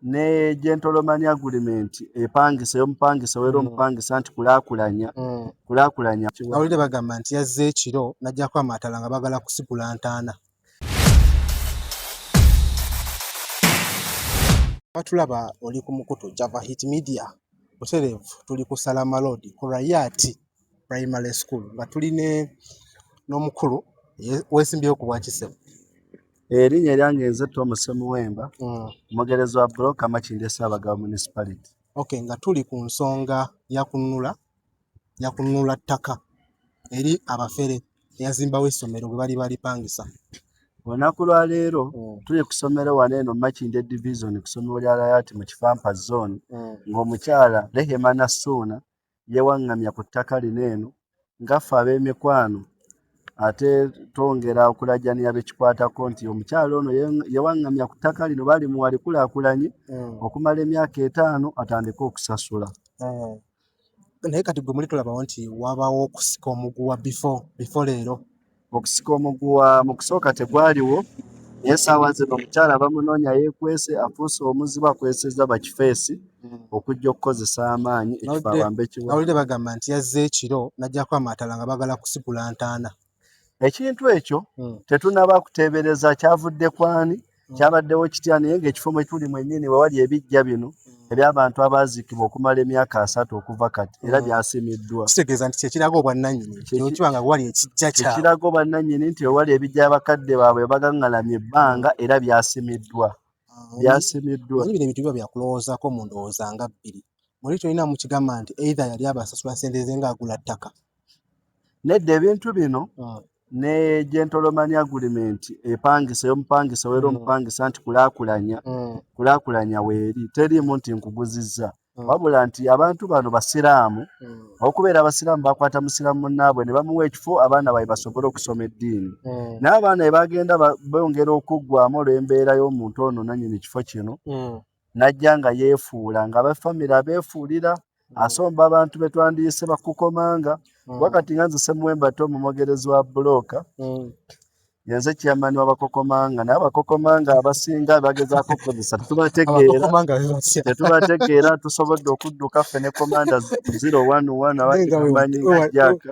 ne gentleman agreement epangisa eyomupangisa wera mm. omupangisa nti kulakulanya mm. kulakulanya awulire bagamba nti yazze ekiro najjako amatala nga bagala kusigula ntaana batulaba oli ku mukutu java hit media butereevu tuli ku salama road ku rayati primary school nga tuli ne n'omukulu wesimbyeko ku bwakisebo erinnya eryange nze tom semuwemba mm. omugerezi wa buloka makinde ssaabagabo municipality ok nga tuli ku nsonga yakununula yakununula ttaka eri abafere eyazimbawo essomero bwe bali balipangisa olunaku lwaleero mm. tuli ku ssomero wano eno makinde division ku ssomero lya layati mu kifampa zone mm. ng'omukyala rehema nassuuna yeewaŋŋamya ku ttaka lino eno nga ffe ab'emikwano ate twongera okulajanira bekikwatako nti omukyalo ono yewaŋŋamya ku ttaka lino balimuwa likulakulanye mm. okumala emyaka etaano atandike okusasula mm. naye kati gwe muli tulabawo nti wabawo okusika omuguwa before leero Okusika omuguwa mu kusooka tegwaliwo naye essaawa zino omukyala bamunoonya yeekwese afuuse omuzibu akwesezza bakifeesi hmm. okujja okukozesa amaanyi ekifo abambe kiwawulire bagamba nti yazze ekiro n'ajjako amaatala nga bagala kusigula ntaana ekintu ekyo hmm. tetunaba kuteebereza kyavudde kwani mm. kyabaddewo kitya naye ngaekifo mwe tuli mwennyini wewali ebijja bino mm. ebyabantu abaziikibwa okumala emyaka asatu okuva kati era mm. byasimiddwa kitegeeza nti kyekiraga obwannanyini kyokiba nga wali ekijja kyekiraga obwannanyini nti wewali ebijja abakadde baabwe bagangalamye ebbanga era byasimiddwa byasimiddwa bino ebintu biba byakulowoozaako mu ndowooza nga bbiri muli tolina mukigamba nti either yali abasasula sente ze ngaagula ttaka nedda ebintu bino ne gentleman agreement epangisa eyomupangisa weera mm. omupangisa nti kulakulanya mm. kulakulanya weeri teriimu nti nkuguzizza mm. wabula nti abantu bano basiraamu okubeera abasiraamu bakwata musiraamu munnaabwe ne bamuwa ekifo abaana baye basobole okusoma eddiini naye abaana ebagenda bongera okuggwamu olw'embeera y'omuntu ono nanyini kifo kino n'ajja nga yeefuula nga abafamire abeefuulira asomba abantu be twandiyise bakukomanga mm. wakati nga nze semuwembate omumogerezi wa bulooka mm. yenze chairman wabakokomanga naye abakokomanga abasinga bagezaako okukozesa tetubategeera tusobodde okudduka ffe ne komanda zero one one abamanyi jaka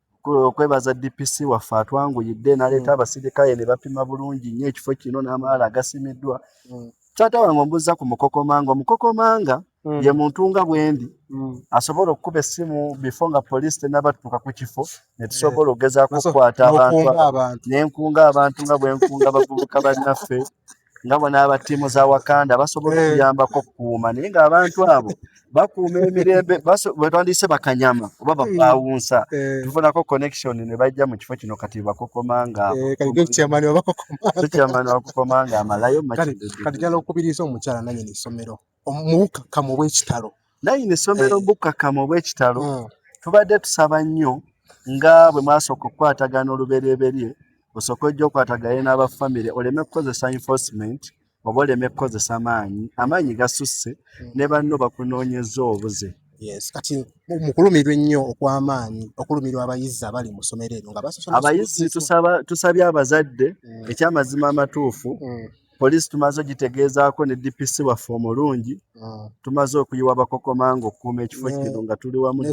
okwebaza DPC waffe atwanguyidde naleeta mm. abasirikale ne bapima bulungi nnyo ekifo kino n'amaala agasimiddwa mm. taata wange ombuza ku mukokomanga omukokomanga mm. ye muntu nga bwendi asobola okukuba essimu bifo nga poliisi tenabatuuka ku kifo ne tusobola eh. okugezaako okukwata abantu nenkunga abantu nga bwenkunga bavubuka bannaffe nga bona aba ttiimu za wakanda basobola eh. okuyambako okukuuma naye ng'abantu abo bakuuma emirembe bwetandiise bakanyama oba bapaawunsa eh. eh. tufunako connection ne bajja mu kifo kino kati bakokoma ngakyamani bakokoma nga amalayo kati jala okubiriza omukyala nanyini ssomero mubukkakkamu obwekitalo naye ino essomero mubukkakkamu eh. obwekitalo hmm. tubadde tusaba nnyo nga bwe mwasooka okukwatagana oluberyeberye osooka ojja okwatagane n'abafamire oleme kukozesa enforcement oba oleme kukozesa maanyi amaanyi gasusse hmm. ne banno bakunoonyeza obuze yes kati mukulumirwa ennyo okw'amaanyi okulumirwa abayizi abali mu ssomero eryo nga abayizi tusabye abazadde mm. ekyamazima amatuufu mm. Poliisi tumaze ogitegeezaako ne DPC waffe omulungi ah. tumaze okuyiwa abakokomanga okukuuma ekifo kino nga tuli wamu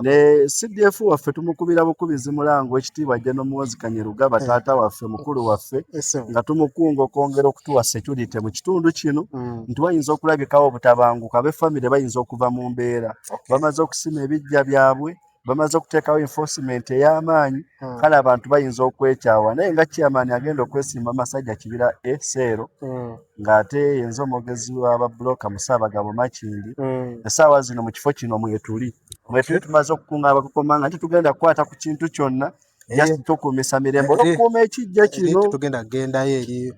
ne CDF waffe tumukubira bukubizi mulango ekitiibwa ajja n'omuwozi Kanyerugaba eh. taata waffe mukulu waffe nga tumukunga okwongera okutuwa security mu kitundu kino hmm. nti bayinza okulabikawo obutabanguka ab'effamire bayinza okuva mu mbeera bamaze okusima ebiggya byabwe bamaze okuteekawo enforcement ey'amaanyi hmm. kale abantu bayinza okwekyawa naye nga chairman agenda okwesimba masajja kibira eseero hmm. ng'ate yenza omwogezi w'ababulooka mu ssaabagabo makindi hmm. essaawa zino mu kifo kino mwetuli mwetuli tumaze okukunga abakukoma nga titugenda kukwata ku kintu kyonna eh. just tukuumisa mirembe eh, eh. okukuuma ekijja kino tugenda kugendayo eri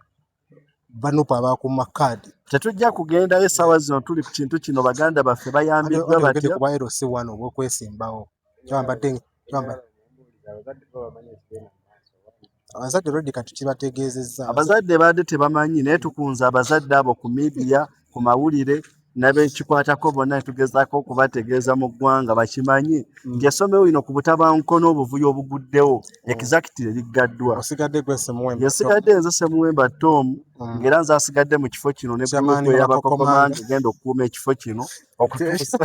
banupu abakuuma kaadi tetujja kugendayo essaawa zino tuli ku kintu kino baganda baffe bayambiddwa batyo kuba ero si wano obwokwesimbawo kyambadde kyambadde abazadde redi kati kibategeezezza abazadde baadde tebamanyi naye tukunze abazadde abo ku midiya ku mawulire nabekikwatako bonna netugezako okubategeeza mu ggwanga bakimanyi mm. nti essomero lino ku butabanguko n'obuvuyo obuguddewo mm. exactire liggaddwa yesigadde nze semuwemba tom mm. ngaera nze asigadde mu kifo kino ne gulupu eyabakokomanda egenda okukuuma ekifo kino okutuusa